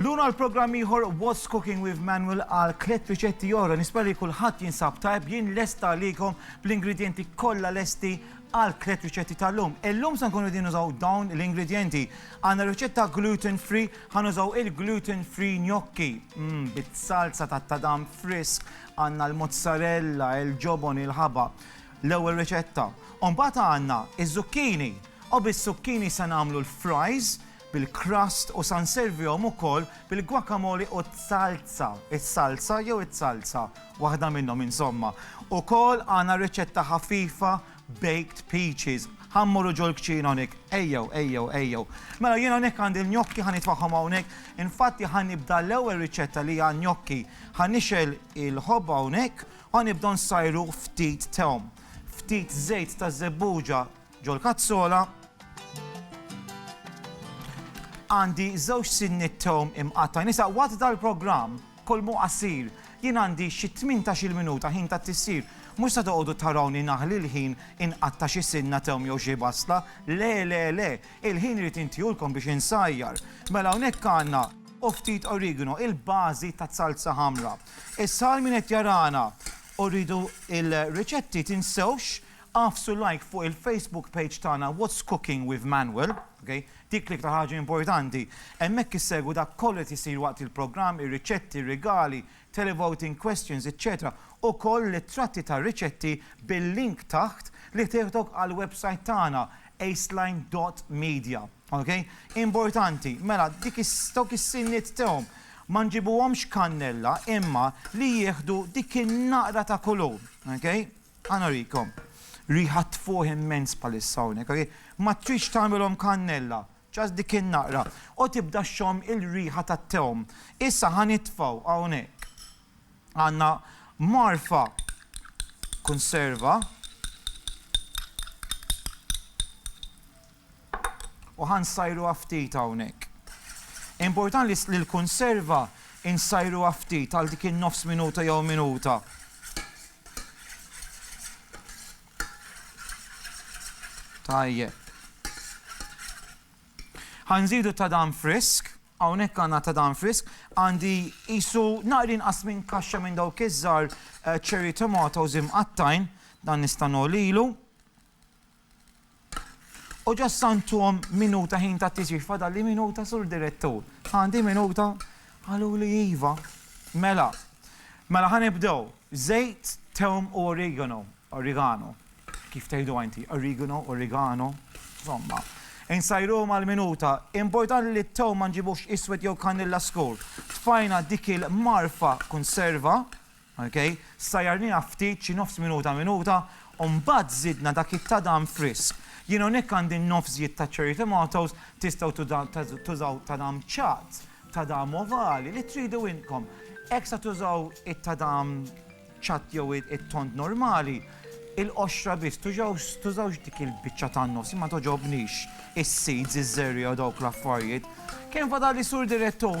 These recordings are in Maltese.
Lun għal programm ieħor What's Cooking with Manuel għal tliet riċetti oħra. Nispera li kulħadd jinsab tajb jien lesta għalikom bl-ingredjenti kollha lesti għal tliet riċetti tal-lum. Illum se nkunu din użaw dawn l-ingredjenti. Għandna riċetta gluten free, ħan użaw il-gluten free gnocchi. Mm, bit-salza ta' tadam frisk, għandna l-mozzarella, il-ġobon, il-ħaba. L-ewwel riċetta. Umbagħad għandna iż-zucchini. U bis-zucchini se nagħmlu l-fries bil-crust u sa nservihom ukoll bil-guacamole u t-salsa, is-salsa jew it-salsa, waħda minnhom insomma. Ukoll għandna riċetta ħafifa baked peaches. Ħa mmorru ġol-kċina hawnhekk. Ejjew, ejjew, ejjew. Mela jien hawnhekk għandi l-gnocchi ħa nitfagħhom hawnhekk. Infatti ħa nibda l-ewwel riċetta li hija gnocchi. Ħa nixgħel il-ħobba hawnhekk u ħa nibda nsajru ftit thom, ftit żejt taż-żebbuġa, Ġol kazzola għandi żewġ sinniet tom imqatta' nisa waqt dal-programm kolmu qasir jien għandi xi tmintax-il minuta ħin ta' tissir. Mhux se toqogħdu tarawni naħli l-ħin inqatta' xi sinna tom jew xi basla. Le, le, le! Il-ħin irid intiehulkom biex insajjar. Mela hawnhekk għandna u ftit origano, il-bażi taz-salza ħamra. Issa għal min qed jarana u rridu l-riċetti tinsewx Agħfsu like fuq il-Facebook page tagħna What's Cooking with Manuel, ok, dik l-iktar ħaġa importanti. Hemmhekk issegwu dak kollu li qed isir waqt il-programm, ir-riċetti, r-rigali, televoting questions, eċċetera Ukoll l-ittratti tar-riċetti bil-link taħt li tieħdok għall-websajt tagħna aceline dot media. Ok? Importanti, mela dik is, dawk is-sinniet tehom ma nġibuhomx kannella imma li jieħdu dik in-naqra ta' kulur. Ok? Ħa nurikom. Riħa tfuħ immens bħalissa hawnhekk, ok? Ma tridx tagħmilhom kannella, just dik in-naqra. U tibda xxomm il-riħa tat-tewm. Issa ħa nitfgħu hawnhekk. Għandna mgħarfa kunserva. U ħa nsajruha ftit hawnhekk. Importan li li l-kunserva nsajruha ftit għal dik in-nofs minuta jew minuta. Tajjeb. Ħa nżidu ta' dan frisk, hawnhekk għandna ta' dan frisk, għandi qisu naqri inqas minn kaxxa minn dawk iż-żgħar cherry tomatoes imqattajn, dan nista' nogħlilu. U ġo s-Santom minuta ħin ta' tisbih fadalli minuta sur direttur. Għandi minuta qaluli iva. Mela, mela ħanibdew. Żejt, tewm u origano. Origano. Kif tgħidu inti? Origano, origano. Insomma, insajruhom għal minuta. Importanti li t-tewm ma nġibux iswed jew kanilla skur. Tfajna dik il-marfa konserva Ok, sajjarniha ftit, xi nofs minuta minuta, u mbagħad żidna dak it-tadam frisk. Jien hawnhekk għandi n-nofs żjed ta' cherry tomatoes, tistgħu tużaw tadam ċatt, tadam ovali, li tridu intkom. Hekk sa tużaw it-tadam ċatt jew it-tond normali, il-qoxra biss, tużawx dik il-biċċa tan-nofs, jien ma togħġobnix is-seeds, iż-żerriegħa u dawk l-affarijiet. Kemm fadalli Sur Direttur?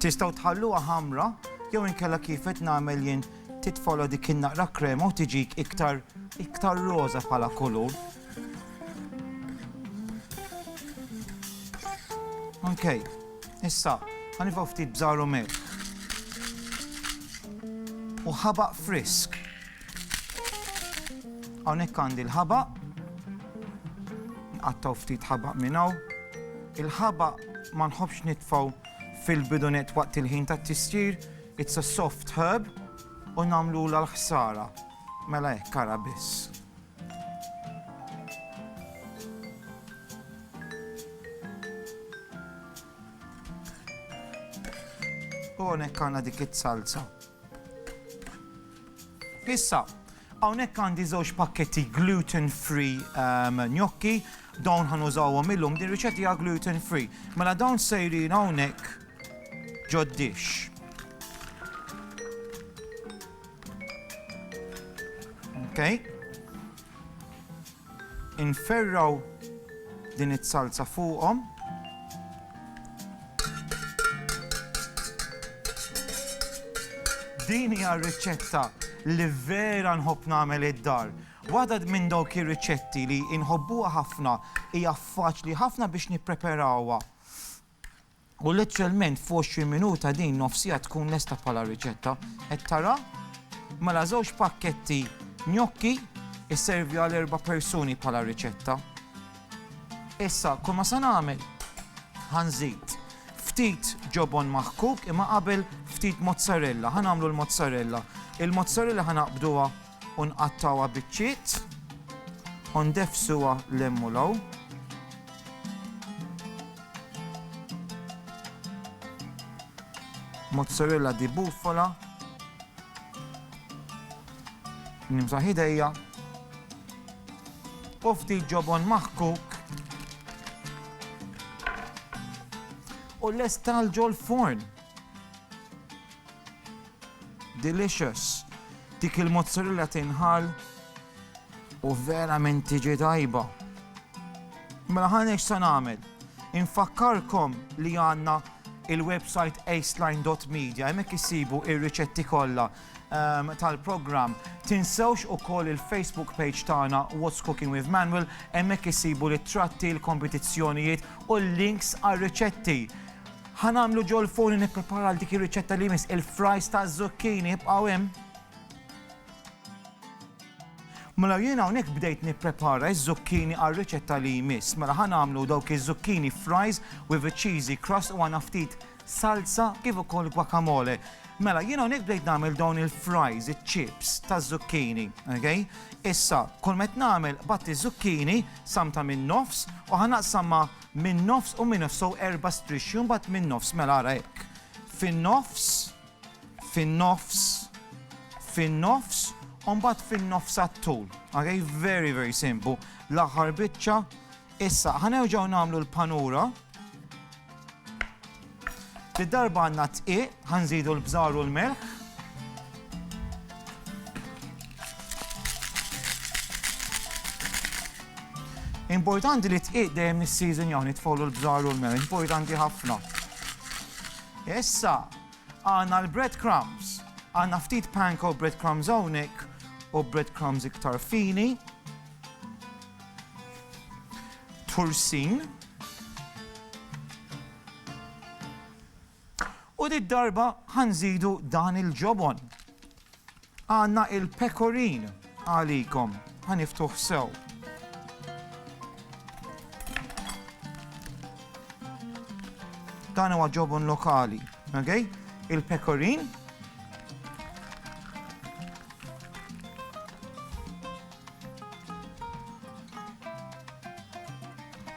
Tistgħu tħalluha ħamra jew inkella kif qed nagħmel jien titfola dik in-naqra krema u tiġik iktar iktar roża bħala kulur. Ok, issa, ħanifaw ftit bżaru melħ. U ħabaq frisk. Hawnhekk għandi l-ħabaq. Nqattaw ftit ħabaq minn hawn. Il-ħabaq ma nħobbx nitfgħu fil-bidunet waqt il-ħin tat-tistir. It's a soft herb u nagħmlu l-ħsara. Mela hekk kara biss. U għonek għana dik it-salza. Issa, hawnhekk għandi żewġ pakketti gluten free gnocchi, dawn ħa nużawhom illum, din riċetta hija gluten free. Mela dawn sejrin hawnhekk ġod-dish. Okay? Inferraw din iz-zalza fuqhom. Din hija r-riċetta li vera nħobb nagħmel id-dar. Waħda minn dawk ir-riċetti li inħobbuha ħafna hija faċli ħafna biex nippreperawha. U lettralment f'għoxrin minuta din nofsija tkun lesta bħala riċetta. Qed tara? Mela żewġ pakketti gnocchi jservi għal erba' persuni bħala riċetta. Issa, kull ma se nagħmel ħanżid ftit ġobon maħkuk imma qabel ftit mozzarella, ħanamlu l-mozzarella. Il-mozzarella ħanaqbduha U nqattgħuha biċċiet, u ndeffsuha 'l hemm u 'l hawn. Mozzarella di bufala. Nimsaħ idejja. U ftit ġobon maħkuk. U lesta l-ġol forn. Delicious! Dik il-mozzarella tinħall u verament tiġi tajba. Mela ħanex se nagħmel. Infakkarkom li għandna il-website aceline.media hemmhekk issibu ir-riċetti kollha ehm, tal-programm. Tinsewx ukoll il-Facebook page tagħna What's Cooking with Manuel hemmhekk issibu l-tratti, l-kompetizzjonijiet u l-links għar-riċetti. Ħa nagħmlu ġolfoni nipprepara għal dik ir-riċetta li jmiss il-fries ta' zucchini ibqgħu hemm. Mela jien hawnhekk bdejt nipprepara ż-zucchini għal riċetta li jmiss. Mela ħa nagħmlu dawk iż-zucchini fries with a cheesy crust u għana ftit salsa kif ukoll guacamole. Mela jien hawnhekk bdejt nagħmel dawn il-fries, iċ-chips ta' zucchini, okay? Issa, kull met nagħmel batti zucchini samta minn nofs u ħanaqsamma min-nofs u min-nofs so erba' strixxi u mbagħad min-nofs mela ara hekk fin-nofs fin-nofs fin-nofs u mbagħad fin-nofs għat-tul ok very very simple l-aħħar biċċa issa ħa nerġgħu nagħmlu l-panura Di darba għandna d-dqiq, ħanżidu l-bżar u l-melħ. Importanti li t-dqiq dejjem nis-seasonjaw nitfgħulu l-bżar u l-melħ, importanti ħafna. Issa, għandna l-bread crumbs. Għandna ftit panko bread crumbs hawnhekk u bread crumbs iktar fini. Tursin. U did-darba ħa nżidu dan il-ġobon. Għandna il-pekorin għalikom. Ħa niftuh sew. Dan huwa ġobon lokali, okay? Il-pekorin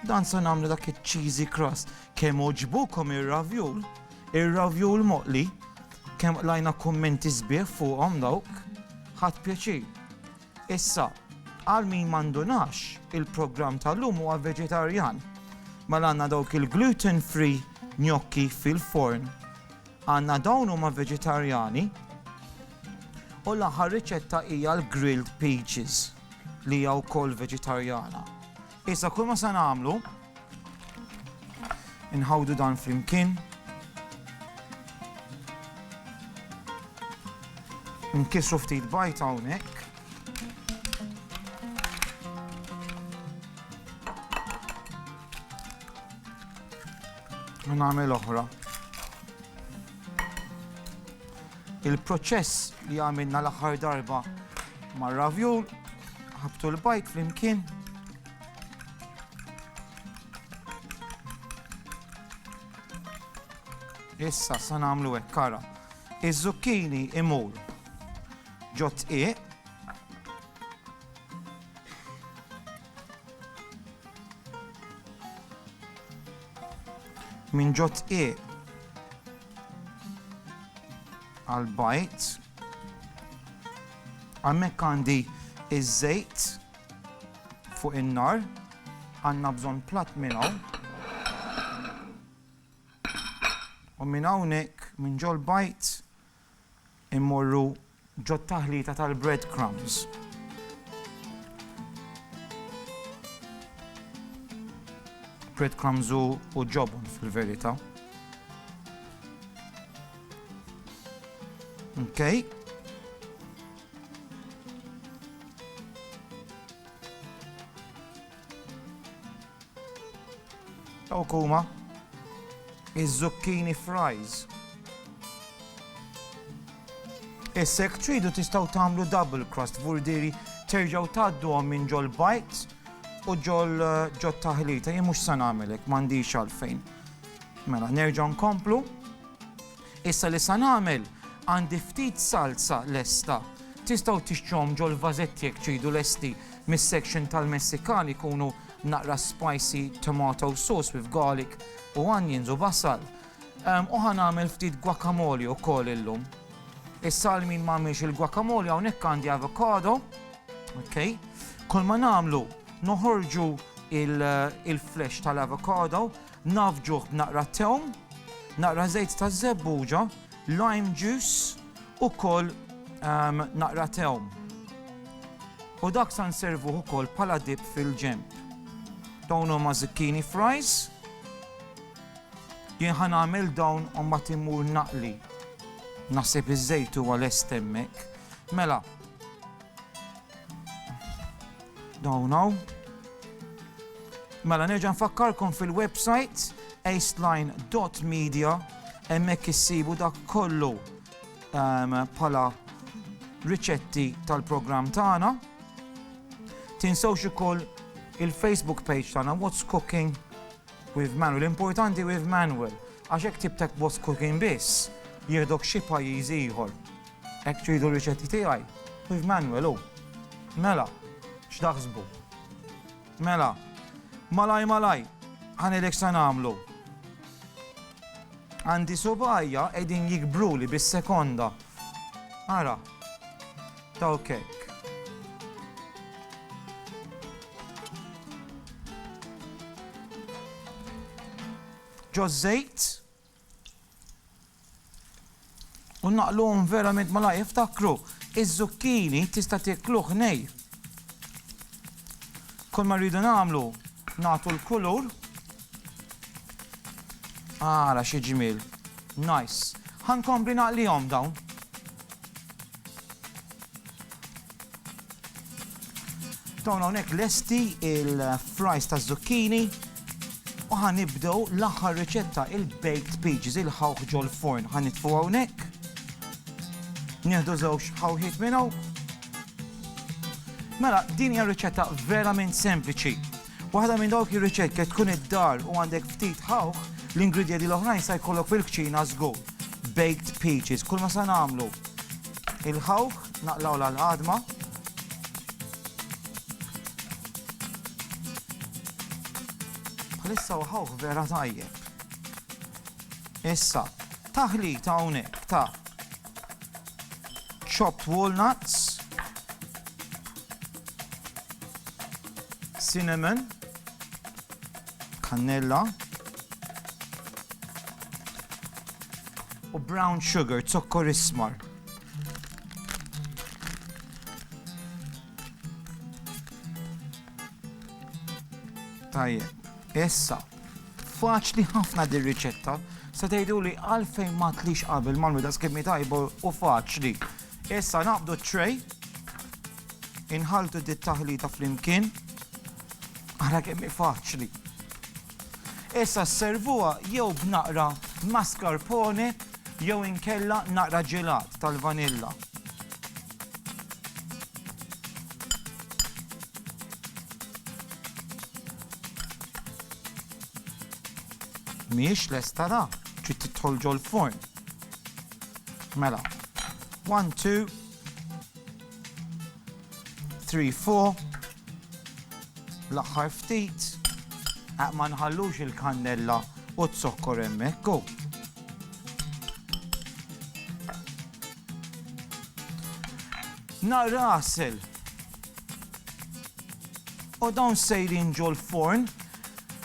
Dan se nagħmlu dak iċ-cheesy crust. Kemm oġbukom ir-ravjul, ir-ravjul moqli, kemm lajna kummenti sbieħ fuqhom dawk, ħadd pjaċir. Issa, għal min m'għandunax, il-programm tal-lum huwa veġetarjan. Mela għandna dawk il-gluten free gnocchi fil-forn Għandna dawn huma veġetarjani u l-aħħar riċetta hija l-grilled peaches li hija wkoll veġetarjana. Issa kull ma se nagħmlu inħawdu dan flimkien. Nkisru ftit bajt hawnhekk. U nagħmel oħra. Il-proċess li għamilna l-aħħar darba mar-ravjul, ħabtu l-bajt flimkien. Issa sa nagħmlu hekk kara. Iż-zucchini imur ġot iq minn ġo tqieq għal bajt għammek għandi iż-żejt fuq in-nar għandna bżonn platt minn hawn u minn hawnhekk minn ġol bajt Immorru ġot-taħlita tal-bread crumbs. Bread crumbs u ġobon fil-verità. Okay. Dawk huma iż-zucchini fries. Issa jekk tridu tistgħu tagħmlu double crust vurdiri terġgħu tgħadduhom minn ġol bites u ġol eh, ġo taħlita jien mhux se nagħmelek m'għandix għalfejn. Mela nerġgħu nkomplu. Issa li sa nagħmel? Għandi ftit salsa lesta. Tistgħu tixtruhom ġol-vażetti jekk tridu lesti mis-section tal-Messikan ikunu naqra spicy tomato sauce with garlic u onions u basal. U ħa nagħmel ftit guacamole ukoll illum. Issa għal min m'għamilx il-guacamole hawnhekk għandi avocado. Okay. Kull ma nagħmlu noħorġu il-flesh tal-avocado Navġuh b'naqra tewm, naqra żejt taż-żebbuġa, lime juice u wkoll naqra tewm. U dak sa nservuh ukoll bħala dip fil-ġenb. Dawn huma zucchini fries. Jien ħa nagħmel dawn u mbagħad immur naqli. Naħseb iż-żejt huwa lest hemmhekk. Mela, Dawn hawn. Mela nerġa' nfakkarkom fil-website aceline.media hemmhekk issibu dak kollu ehm, bħala riċetti tal-programm tagħna. Tinsewx ukoll il-Facebook page tagħna What's Cooking with Manuel. Importanti with Manuel għax hekk tibtek What's Cooking biss jieħdok xi pajjiż ieħor. Hekk ċejdu r-riċetti tiegħi? Kif Manuel hu? Mela, x'taħsbu? Mela, malaj malaj, ħanilek sa nagħmlu. Għandi subajja qegħdin jikbruli bis-sekonda. Ara, taw kek. Ġo żejt, U naqluhom verament malajr. Iftakru, iż-żukkini tista' tiekluh nej. Kull ma rridu nagħmlu nagħtu l-kulur. Ara xi ġmiel. Nice. Ħankompli naqlihom dawn. Dawn hawnhekk lesti il-fries taż-żukkini. U ħa nibdew l-aħħar riċetta, il-baked peaches, il-ħawħ ġol-forn. Ħa nitfu hawnhekk. Nieħdu żewġ ħawħiet minn hawn. Mela, din hija riċetta verament sempliċi. Waħda minn dawk ir-riċett kif tkun id-dar u għandek ftit ħawħ, l-ingredjenti l-oħrajn sa jkollok fil-kċina żgur. Baked peaches, kull ma sa nagħmlu. Il-ħawħ naqlaw l-għadma, Bħalissa u ħawħ vera tajjeb. Issa, taħlita hawnhekk ta' chopped walnuts, cinnamon, kannella, u brown sugar, zokkor ismar. Tajjeb. Issa, faċli ħafna din riċetta se tgħiduli għalfejn ma tlix qabel mal-mida skimmi tajba u faċli. Issa naqbdu t-tray, inħaltu dit taħlita flimkien, ara kemm faċli. Issa sservuha jew b'naqra mascarpone jew inkella naqra ġelat tal-vanilla. Mhijiex lesta ra, trid tidħol ġol-forn. Mela, one, two, Three, four. L-aħħar ftit. Ma nħallux il-kannella u t-zokkor hemmhekk hu. Nar rasel. U dawn sejrin ġol forn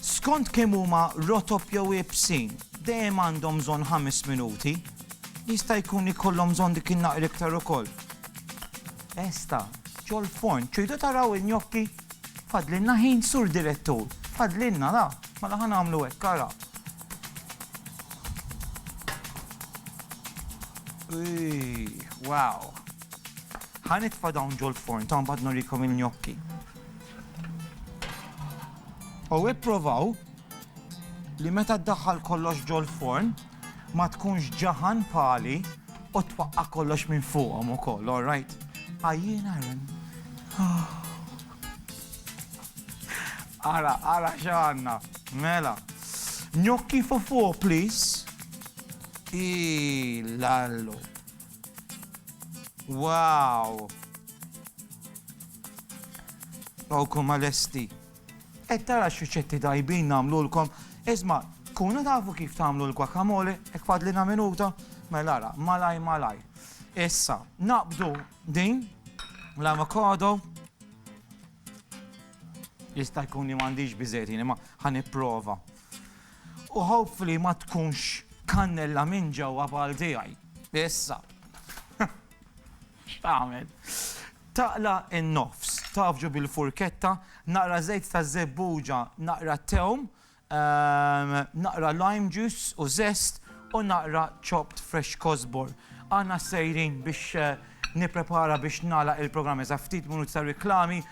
skont kemm huma rotob jew ibsin dejjem għandhom bżonn ħames minuti Jista' jkun li jkollhom bżonn dik in-naqra iktar ukoll. Esta, ġol-forn, tridu taraw in-gnocchi? Fadlilna ħin, Sur Direttur, fadlilna, ra, mela ħa nagħmlu hekk, ara. Wow! Ħa nitfa' dawn ġol-forn, ta' mbagħad nurikom il-gnocchi. U ipprovaw li meta ddaħħal kollox ġol-forn, ma tkunx ġaħan bħali u twaqqa' kollox minn fuqhom ukoll, all right? Għajjiena Aaron. Ara, ara x'għandna. Mela. Gnocchi for four, please. Ilallu. Wow. Awkom għal-esti. Qed tara x'riċetti tajbin nagħmlulkom? Isma', tkunu tafu kif tagħmlu l-guacamole? Hekk fadlilna minuta? Mela ara, malajr malajr. Issa, naqbdu din l-avocado. Jista' jkun li m'għandix biżejjed jiena, ma ħa nipprova. U hopefully ma tkunx kannella minn ġewwa bħal tiegħi. Issa. X'tagħmel? Taqla' in-nofs, tgħaffġu bil-furketta, naqra żejt ta' żebbuġa, naqra tewm, naqra lime juice u żest u naqra chopped fresh kosbor. Aħna sejrin biex nipprepara biex nagħlaq il-programm iżda ftit minuti ta' riklami.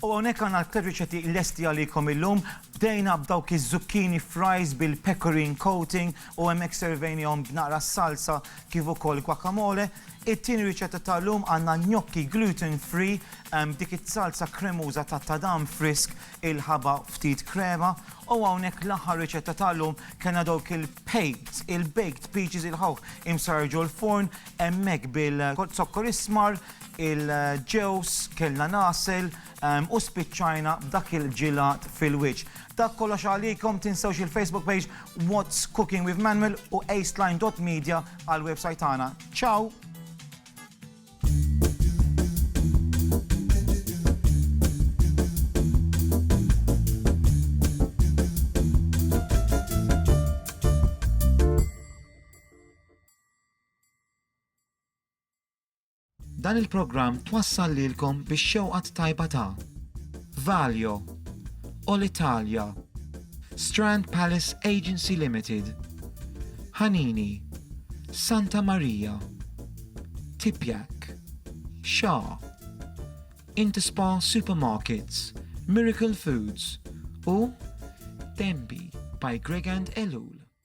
U hawnhekk għandna tliet riċetti lesti għalikom illum. Bdejna b'dawk iż-zucchini fries bil-pecorine coating u hemmhekk servejnihom b'naqra salsa kif ukoll guacamole. It-tieni riċetta ta' llum għandna gnocchi gluten free b'dik iz-zalza kremuża ta' tadam frisk il-ħaba ftit krema. U hawnhekk l-aħħar riċetta ta' llum kellna dawk il-peas, il-baked peaches il-ħawħ imsarġu l-furn Hemmhekk bil-zokkor ismar, il-ġewż, kellna l-għasel u spiċċajna b'dak il-ġilat fil-wiċċ. Dak kollox għalikom, tinsewx il-Facebook page What's Cooking with Manuel u aceline dot media għall-website tagħna. Ciao! Dan il-programm twassal lilkom bix-xewqa t-tajba ta' Valio, Olitalia, Strand Palace Agency Limited, Hanini, Santa Maria, Tipjak, Xa, Interspa Supermarkets, Miracle Foods u Denby by Gregand Ellul.